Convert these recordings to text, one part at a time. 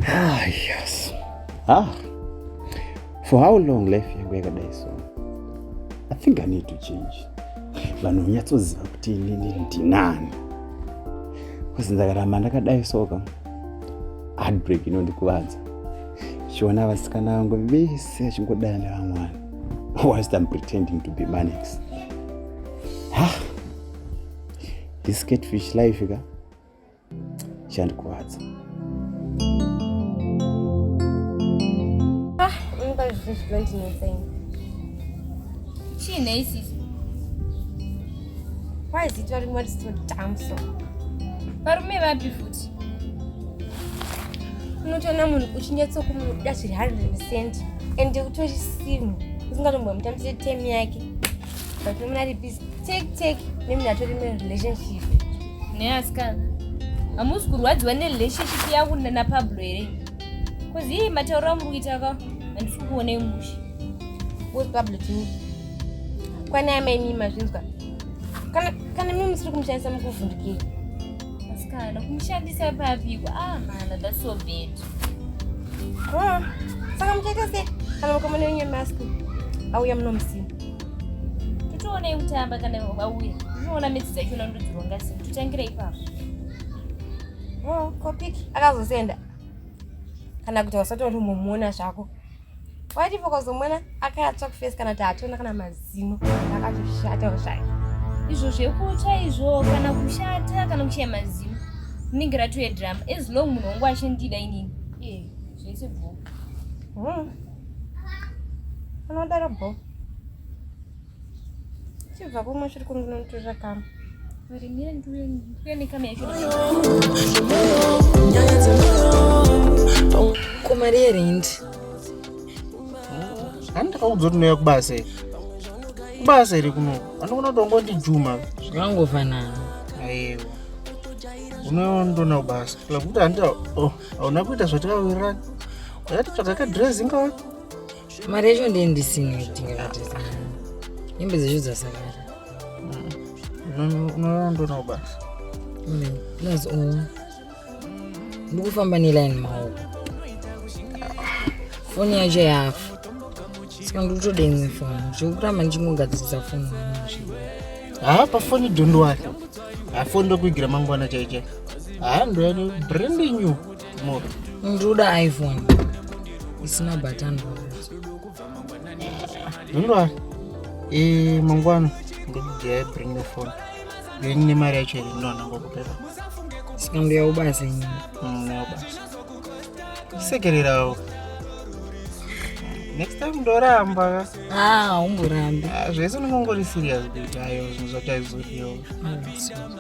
Ah, yes. Ah. For how long life yangu yakadai so? I think I need to change. Vanhu nyatsoziva kuti inini ndinani. Kozi ndakaramba ndakadai soka. Heartbreak inondikuvadza. Chiona vasikana vangu vese chingodana nevamwana. whilst I'm pretending to be Manix. Ah, this catfish life ka chandikuvadza. Ah, unobva zvinhu zvinondinetsa ini. Chii nei sisi? Why is it varume vari so dumb so? Varume vapi futi? Unotoona munhu uchinyatsokumudira zviri 100 percent and utori simu usingatombomutamisa tem yake but nomuna ari busy take take nemuna atori merelationship neasikana hamusi kurwadziwa nerelationship yangu napablo here bcause iye matauro amuri kuita ka handisi kukuonei mushe wepablo tini Kwani amai mimi mazvinzwa? Kana kana mimi musiri kumushandisa mukuvhundukira. Asikana kumushandisa papi? Ah mana that's so bad. Oh, saka muchaita sei? Kana mukamona wenyu mask auya munomusina. Titoona yekutamba kana auya. Tinoona midzi dzacho na ndudzi ronga sei. Tutangire ipapo. Oh, kopiki akazosenda. Kana kuti wasatori mumuona zvako. waiti fokozomwana akatsva kufesi kana kuti hatona kana mazino akatoshata ushaya izvo zvekutsva izvo kana kushata kana kushaya mazino rinenge ratove drama as long munhu wangu achindida inini eh, zvese bho hmm. anodaro bho chibva kumwe chiri kunginonitorera kama varimira ndiuye ndiuye nekama yacho komari yerendi hani ndakaudza kuti noya kubasa iri kubasa iri kuno anokona kuti wangondijuma zvakangovanana aiwa unondona kubasa kula kuti handi hauna kuita zvatikawirana yatitsvaga kadress ingawani mari yacho ndiye ndisina kutenga hembe dzacho dzasakara unoondonawo basa plus u ndikufamba neline maoko foni yacho yafa saka ndikutoda imwe foni zvekuramba ndichingogadzirisa foni haa pafoni dondowari hafoni ndokuigira mangwana chaichai haa ndoyani branding you ndoda iphone isina button ndinoda e mangwana ndokudai bring the phone yeni nemari yacho here ndinoda ngokupera saka ndoya ubasa nyini nobasa mm, sekererawo next time ndoramba ah, umborambi ah, zvese unongongori serious kuti ayo zvinhu zvacho aizodiwa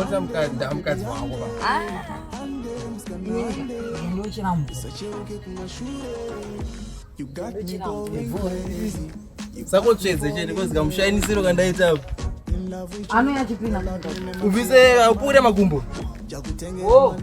Ota mukadzi mukadzi wangu ba. Sako tsvedze chete kozika mushainisiro kandaita apo. Ano yachipina. Ubvise upure makumbo. Oh.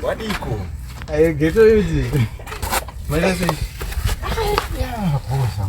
Wadiko. Ayo geto yuti. Mwana sei? Yeah, posa.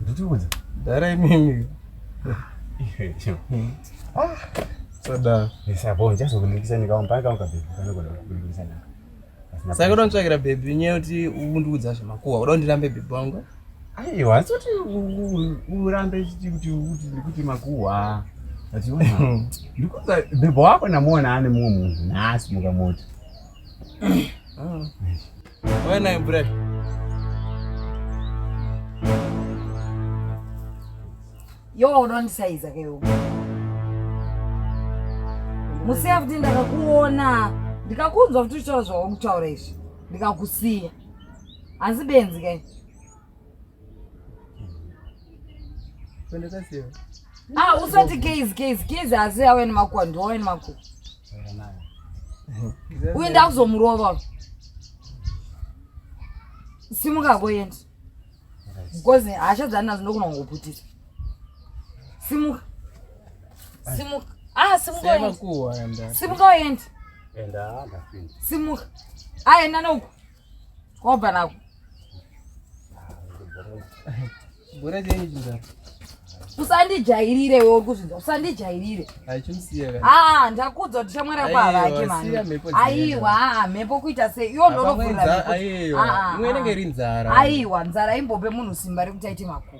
Nditiudze. Dara imimi. Ah, sada. Ndisabonja eh, chazokunikisa ndikaomba kaunga baby kana kuda kunikisa na. Saka kuda kutsvakira baby nyaya kuti undiudza zvemakuwa. Kuda kundirambe baby wangu. Aiwa, asi kuti urambe kuti kuti kuti makuwa. Achiona. Ndikuza baby wako namuona ane mumwe munhu. Nasi mukamoti. Ah. Why not break? Yo, don't say it's okay. Musevdi ndakakuona ndikakunzwa kuti uchitaura zvawakutaura izvi ndikakusiya asi benzi kai Ah, usati gays gays gays asi awe nemakuwa ndiwawe nemakuwa uye ndakuzomurova simuka koyenda because hasha dzani nazo ndokuna kungoputisa simuka simuka ah simuka simuka oyendi simuka aenda ah, noku Kwabva nako. Bora dzenyu chinzara. Usandijairire wewe uri kuzvinzwa. Usandijairire. Achimusiya kana. Ah, ndakuudza kuti shamwari yako havake mani. Aiwa, mhepo kuita sei? Iyo ndonovhurira. Aiwa. Imwe inenge iri nzara. Aiwa, nzara imbope munhu simba rekuti aite makuva.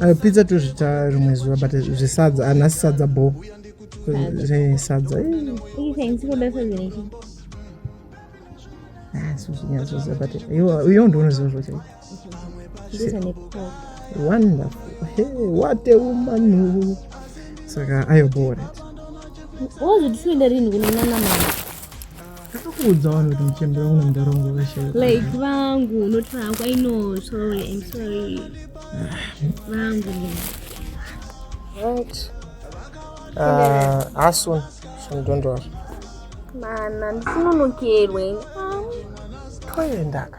Uh, pizza tozvita rimwe zuva but zvesadza anasi sadza bo zvesadza uyo ndounoziva zvochai wonderfulwate umanu saka ayo boret wozvitisoenda rinhi kunonana mama Akakuudza vanhu kuti muchembera kuna mudhara wangu vakashaya. Like vangu not vangu I know sorry I'm sorry. Vangu. Right. Uh, Asun, Asun don't worry. Mana ndifuna unokerwe. Toyendaka.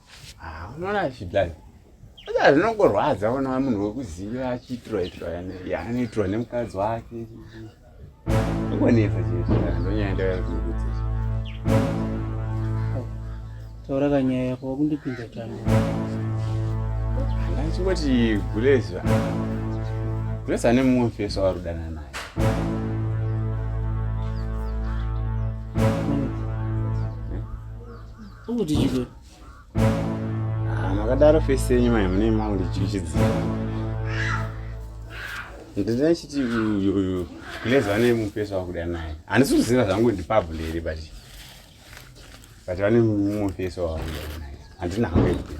Ah, unoona zvidai aa zvinongorwadza ona munhu wekuziva achiitirwa itirwa yaanoitirwa nemukadzi wake ingonetsa chete ndonyaya ndayakuzungudza taura kanyaya yako wakundipinza chani ndachingoti guleza guleza ane mumwe mfeso warudana naye Kuti chiko. Ah, makadaro face yenyu mai mune maundi chichidzira. Ndina chiti uyu uyu kuleza vane mupesa wakuda naye. Handisi kuziva zvangu ndi pabule here but but vane mupesa wakuda naye. Handina hangu yekuda.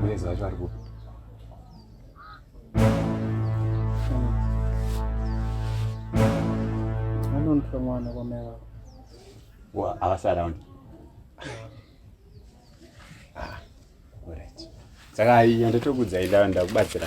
Kuleza vacho vari kupi? Anonitwa mwana kwamai vako. Wa avasi around. Ah, alright. Saka yandatokudzai ndakubatsira.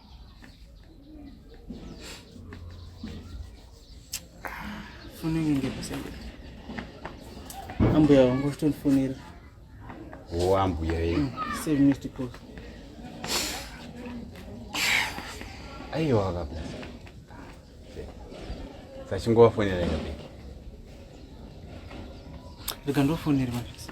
foni yangu ingepasende ambuya wangu vachitondifonera o ambuya ye mm, save missed call aiwa kabla sachingovafonera kabiki rega ndofonera mavisi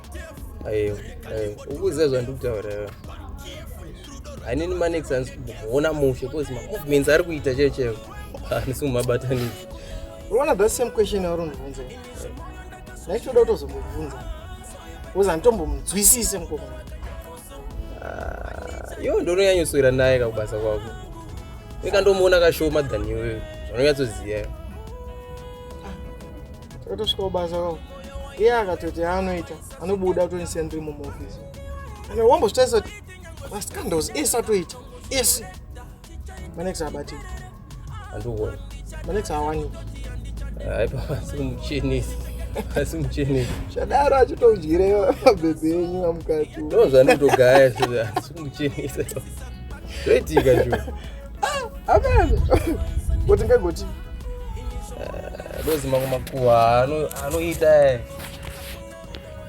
ayo ayo ukuziva zvandiri kutaura iwe hanini manex hanzi kuona mushe bcause mamovements ari kuita chaiyo chaiyo handisi kumabatanidza unoona the same question yauri undibvunza ndaichoda kutozombobvunza bcause handitombomunzwisise mukomana ah, yo ndononyanyoswera naye kakubasa kwako ikandomuona kashoma than iwewe zvanonyatsoziva takatosvika kubasa kwavo iye akatoti yaanoita anobuda kutondisiya ndiri mumaofisi and wambozvitarisa kuti mascandals ese atoita ese manex abatii andiuoni manex awani aipa asi muchenisi asi muchenisi chadaro achitoudyire mabhebhe enyu amukati ndozvanditogaya asi muchenisi zvoitika zvo Amen. Goti ngegoti. Eh, dozi mangu makuwa ano anoita eh.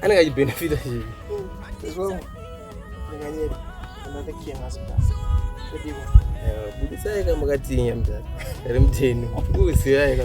Anenge achibenefita chii. Tezwangu. Ndinganyeri. Another king has passed. Kodiwa. Eh, budisai kama katinya mtata. Rimteni. Usiyaika.